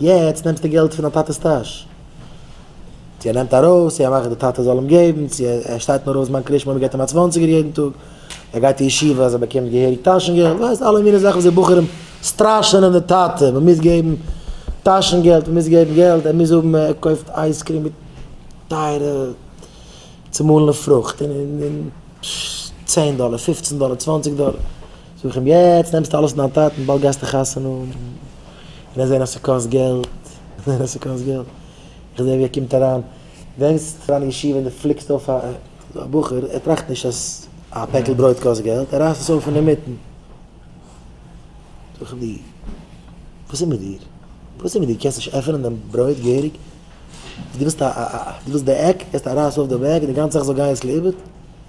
יעצט נעמסטו געלט פון דיין טאטע'ס טאש, צו ער נעמט ארויס, צו ער מאכט די טאטע זאל אים געבן, צו ער שטייט נאר אויס ביים קרישמע און מען געבט אים א צוואנציגער יעדן טאג, ער גייט אין ישיבה אז ער באקומט געהעריג טאשן געלט, ווייסט אלע מיני זאכן וואס די בחורים סטראשענען די טאטע, מען מוז געבן טאשן געלט, מען מוז געבן געלט, ער מוז האבן, ער קויפט אייז קרים מיט טייערע צומאלענע פרוכט און צען דאלער, פופצן דאלער, צוואנציג דאלער. זאג איך אים, יעצט נעמסטו אלעס אין דיין טאטן, באלד גייסטו חתונה האבן, און עסט זען אז ס'קאסט געלט, זען אז ס'קאסט געלט, איך זע ווי ער קומט אריין, ברענגסט פאר אן ישיבה און דו פליקסט אויף א בחור, ער טראכט נישט אז א פעקל ברויט קאסט געלט, ער רייסט עס אויף אינמיטן. זאג איך די, וואס איז מיט דיר? וואס איז מיט דיר? קענסט נישט עפענען דעם ברויט געהעריג? דו ווילסט די עק, הערסט א רייס אויף די בעק און די גאנצע זאך זאל גיין יעצט לאיבוד?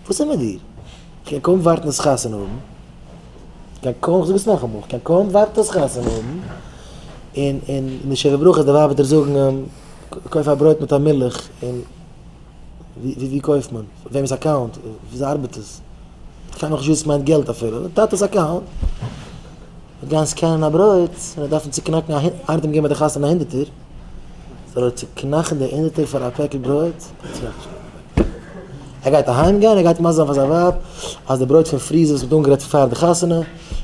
וואס איז מיט דיר? כ'קען קוים ווארטן עס חתונה האבן, כ'קען קוים, כ'זאג עס נאכאמאל, כ'קען קוים ווארטן עס חתונה האבן, און, און אין די שבע ברכות די ווייב וועט דיר זאגן, קויף א ברויט מיט א מילך, און ווי, ווי קויפט מען? וועמענס אקאונט? וויאזוי ארבעט עס? כ'פאר נאך נישט וואס עס מיינט געלט אפילו, טאטע'ס אקאונט. מען גייען סקענען א ברויט, מען דארפן צוקנאקן א הונ, ארדעם געבן ביי די חתונה א הונדערטער, זאל ער צוקנאכן די הונדערטער פאר א פעקל ברויט? ער גייט אהיים גיין, ער גייט מסביר זיין פאר זיין ווייב אז די ברויט פון פריזער וואס מען האט אנגערייט פאר די חתונה,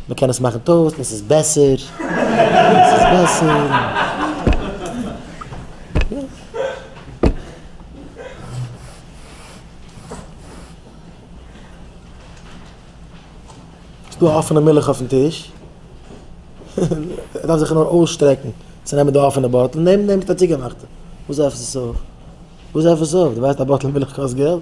מען קען עס מאכן טאוסט און עס איז בעסער, עס איז בעסער. ס'איז דא אפענע מילך אויפן טיש, ער דארף זיך נאר אויסשטרעקן צו נעמען די אפענע באטל, נעמט ער צוגעמאכטע. וואס עפעס איז אויף? וואס עפעס איז אויף? דו ווייסט א באטל מילך קאסט געלט?